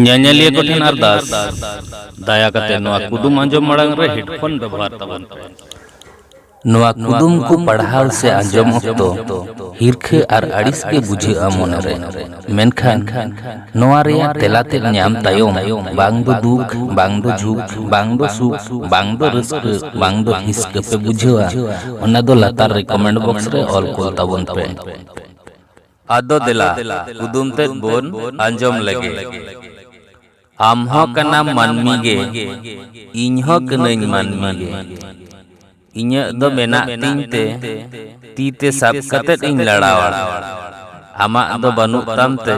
ᱧᱮᱧᱮᱞᱤᱭᱟᱹ ᱠᱚ ᱴᱷᱮᱱ ᱟᱨᱫᱟᱥ ᱫᱟᱭᱟ ᱠᱟᱛᱮ ᱱᱚᱣᱟ ᱠᱩᱫᱩᱢ ᱟᱸᱡᱚᱢ ᱢᱟᱲᱟᱝ ᱨᱮ ᱦᱮᱰᱯᱷᱳᱱ ᱵᱮᱵᱚᱦᱟᱨ ᱛᱟᱵᱚᱱ ᱯᱮ ᱱᱚᱣᱟ ᱠᱩᱫᱩᱢ ᱠᱚ ᱯᱟᱲᱦᱟᱣ ᱥᱮ ᱟᱸᱡᱚᱢ ᱚᱠᱛᱚ ᱦᱤᱨᱠᱷᱟᱹ ᱟᱨ ᱟᱹᱲᱤᱥ ᱜᱮ ᱵᱩᱡᱷᱟᱹᱜᱼᱟ ᱢᱚᱱᱮᱨᱮ ᱢᱮᱱᱠᱷᱟᱱ ᱱᱚᱣᱟ ᱨᱮᱭᱟᱜ ᱛᱮᱞᱟ ᱛᱮ ᱧᱟᱢ ᱛᱟᱭᱚᱢ ᱵᱟᱝ ᱫᱚ ᱫᱩᱠ ᱵᱟᱝ ᱫᱚ ᱡᱷᱩᱠ ᱵᱟᱝ ᱫᱚ ᱥᱩᱠ ᱵᱟᱝ ᱫᱚ ᱨᱟᱹᱥᱠᱟᱹ ᱵᱟᱝ ᱫᱚ ᱦᱤᱥᱠᱟᱹ ᱯᱮ ᱵᱩᱡᱷᱟᱹᱣᱟ ᱚᱱᱟ ᱫᱚ ᱞᱟᱛᱟᱨ ᱨᱮ ᱠᱚᱢᱮᱱᱴ ᱵᱚᱠᱥ ᱨᱮ ᱚᱞ ᱠᱚᱞ ᱛᱟᱵᱚᱱ ᱯᱮ ᱟᱫᱚ ᱫᱮᱞᱟ ᱠᱩᱫᱩᱢ ᱛᱮᱫ ᱵᱚᱱ ᱟᱸᱡᱚᱢ ᱞᱮᱜᱮ᱾ ᱟᱢ ᱦᱚᱸ ᱠᱟᱱᱟᱢ ᱢᱟᱹᱱᱢᱤ ᱜᱮ, ᱤᱧ ᱦᱚᱸ ᱠᱟᱹᱱᱟᱹᱧ ᱢᱟᱹᱱᱢᱤ ᱜᱮ᱾ ᱤᱧᱟᱹᱜ ᱫᱚ ᱢᱮᱱᱟᱜ ᱛᱤᱧ ᱛᱮ, ᱛᱤ ᱛᱮ ᱥᱟᱵ ᱠᱟᱛᱮᱫ ᱤᱧ ᱞᱟᱲᱟᱣᱟ᱾ ᱟᱢᱟᱜ ᱫᱚ ᱵᱟᱹᱱᱩᱜ ᱛᱟᱢ ᱛᱮ,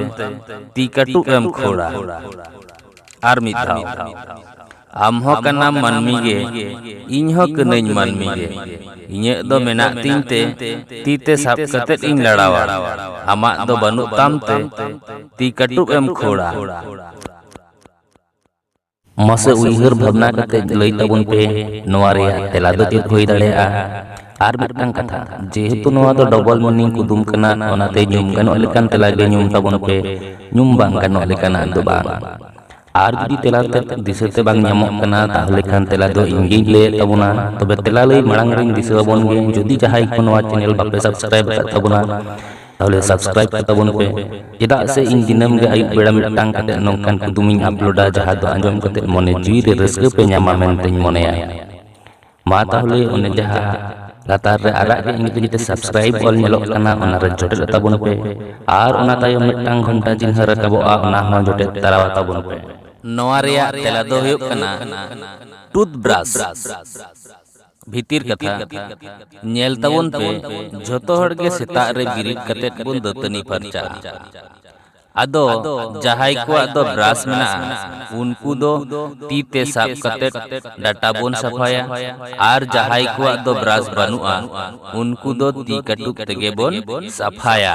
ᱛᱤ ᱠᱟᱹᱴᱩᱵ ᱮᱢ ᱠᱷᱳᱲᱟ᱾ ᱟᱨ ᱢᱤᱫ ᱫᱷᱟᱣ᱾ ᱟᱢ ᱦᱚᱸ ᱠᱟᱱᱟᱢ ᱢᱟᱹᱱᱢᱤ ᱜᱮ ᱤᱧ ᱦᱚᱸ ᱠᱟᱹᱱᱟᱹᱧ ᱢᱟᱹᱱᱢᱤ ᱜᱮ ᱤᱧᱟᱹᱜ ᱫᱚ ᱢᱮᱱᱟᱜ ᱛᱤᱧ ᱛᱮ ᱛᱤ ᱛᱮ ᱥᱟᱵ ᱠᱟᱛᱮᱫ ᱤᱧ ᱞᱟᱲᱟᱣᱟ ᱟᱢᱟᱜ ᱫᱚ ᱵᱟᱹᱱᱩᱜ ᱛᱟᱢ ᱛᱮ ᱛᱤ ᱠᱟᱹᱴᱩᱵ ᱮᱢ ᱠᱷᱳᱲᱟ ᱢᱟᱥᱮ ᱩᱭᱦᱟᱹᱨ ᱵᱷᱟᱵᱽᱱᱟ ᱠᱟᱛᱮᱫ ᱞᱟᱹᱭ ᱛᱟᱵᱚᱱ ᱯᱮ ᱱᱚᱣᱟ ᱨᱮᱭᱟᱜ ᱛᱮᱞᱟ ᱫᱚ ᱪᱮᱫ ᱦᱩᱭ ᱫᱟᱲᱮᱭᱟᱜᱼᱟ ᱟᱨ ᱢᱤᱫᱴᱟᱝ ᱠᱟᱛᱷᱟ ᱡᱮᱦᱮᱛᱩ ᱱᱚᱣᱟ ᱫᱚ ᱰᱚᱵᱚᱞ ᱢᱤᱱᱤᱝ ᱠᱩᱫᱩᱢ ᱠᱟᱱᱟ ᱚᱱᱟᱛᱮ ᱧᱩᱢ ᱜᱟᱱᱚᱜ ᱞᱮᱠᱟᱱ ᱛᱮᱞᱟ ᱜᱮ ᱧᱩᱢ ᱛᱟᱵᱚᱱ ᱯᱮ ᱧᱩᱢ ᱵᱟᱝ ᱜᱟᱱᱚᱜ ᱞᱮᱠᱟᱱᱟᱜ ᱫᱚ ᱵᱟᱝ ᱟᱨ ᱡᱩᱫᱤ ᱛᱮᱞᱟ ᱛᱮ ᱫᱤᱥᱟᱹ ᱛᱮ ᱵᱟᱝ ᱧᱟᱢᱚᱜ ᱠᱟᱱᱟ ᱛᱟᱦᱚᱞᱮ ᱠᱷᱟᱱ ᱛᱮᱞᱟ ᱫᱚ ᱤᱧ ᱜᱤᱧ ᱞᱟᱹᱭᱮᱫ ᱛᱟᱵᱚᱱᱟ ᱛᱚᱵᱮ ᱛᱮᱞᱟ ᱞᱟᱹᱭ ᱢᱟᱲᱟᱝ ᱨᱤᱧ ᱫᱤᱥᱟᱹ ᱟᱵᱚᱱ ᱜᱮ ᱡᱩᱫᱤ ᱡᱟᱦᱟᱸᱭ ᱠᱚ ᱱᱚᱣᱟ ᱪᱮᱱᱮᱞ ᱵᱟᱯᱮ ᱥᱟᱵᱥᱠᱨᱟᱭᱤᱵ ᱟᱠᱟᱫ ᱛᱟᱵᱚᱱᱟ ᱛᱟᱦᱚᱞᱮ ᱥᱟᱵᱥᱠᱨᱟᱭᱤᱵ ᱠᱟᱛᱟ ᱵᱚᱱ ᱯᱮ ᱪᱮᱫᱟᱜ ᱥᱮ ᱤᱧ ᱫᱤᱱᱟᱹᱢ ᱜᱮ ᱟᱹᱭᱩᱵ ᱵᱮᱲᱟ ᱢᱤᱫᱴᱟᱝ ᱠᱟᱛᱮ ᱱᱚᱝᱠᱟᱱ ᱠᱩᱫᱩᱢᱤᱧ ᱟᱯᱞᱳᱰᱟ ᱡᱟᱦᱟᱸ ᱫᱚ ᱟᱸᱡᱚᱢ ᱠᱟᱛᱮ ᱢᱚᱱᱮ ᱡᱤᱣᱤ ᱨᱮ ᱨᱟᱹᱥᱠᱟᱹ ᱯᱮ ᱧᱟᱢᱟ ᱢᱮᱱᱛᱮᱧ ᱢᱚᱱᱮᱭᱟ ᱢᱟ ᱛᱟᱦᱚᱞᱮ ᱚᱱᱮ ᱡᱟᱦᱟᱸ ᱞᱟᱛᱟᱨ ᱨᱮ ᱟᱨᱟᱜ ᱜᱮ ᱤᱧ ᱛᱮᱜᱮ ᱥᱟᱵᱥᱠᱨᱟᱭᱤᱵ ᱚᱞ ᱧᱮᱞᱚᱜ ᱠᱟᱱᱟ ᱚᱱᱟ ᱨᱮ ᱡᱚᱴᱮᱫ ᱛᱟᱵᱚᱱ ᱯᱮ ᱟᱨ ᱚᱱᱟ ᱛᱟᱭᱚᱢ ᱢᱤᱫᱴᱟᱝ ᱜᱷᱚᱱᱴᱟ ᱪᱤᱱᱦᱟᱹ ᱨᱟᱠᱟᱵᱚᱜᱼᱟ ᱚᱱᱟ ᱦᱚᱸ ᱡᱚᱴᱮᱫ ᱛᱟᱨᱟ ᱛᱟᱵᱚᱱ ᱯᱮ ᱱᱚᱣᱟ ᱨᱮᱭᱟᱜ ᱛᱮᱞᱟ ᱫᱚ ᱦᱩᱭᱩᱜ ᱠᱟᱱᱟ ᱴᱩᱛᱷ ᱵᱨᱟᱥ ᱵᱷᱤᱛᱤᱨ ᱠᱟᱛᱷᱟ ᱧᱮᱞ ᱛᱟᱵᱚᱱ ᱯᱮ ᱡᱷᱚᱛᱚ ᱦᱚᱲ ᱜᱮ ᱥᱮᱛᱟᱜ ᱨᱮ ᱵᱤᱨᱤᱫ ᱠᱟᱛᱮ ᱵᱚᱱ ᱫᱟᱹᱛᱟᱹᱱᱤ ᱯᱷᱟᱨᱪᱟᱜᱼᱟ ᱟᱫᱚ ᱡᱟᱦᱟᱸᱭ ᱠᱚᱣᱟᱜ ᱫᱚ ᱵᱨᱟᱥ ᱢᱮᱱᱟᱜᱼᱟ ᱩᱱᱠᱩ ᱫᱚ ᱛᱤ ᱛᱮ ᱥᱟᱵ ᱠᱟᱛᱮ ᱰᱟᱴᱟ ᱵᱚᱱ ᱥᱟᱯᱷᱟᱭᱟ ᱟᱨ ᱡᱟᱦᱟᱸᱭ ᱠᱚᱣᱟᱜ ᱫᱚ ᱵᱨᱟᱥ ᱵᱟᱹᱱᱩᱜᱼᱟ ᱩᱱᱠᱩ ᱫᱚ ᱛᱤ ᱠᱟᱹᱴᱩᱵ ᱛᱮᱜᱮ ᱵᱚᱱ ᱥᱟᱯᱷᱟᱭᱟ᱾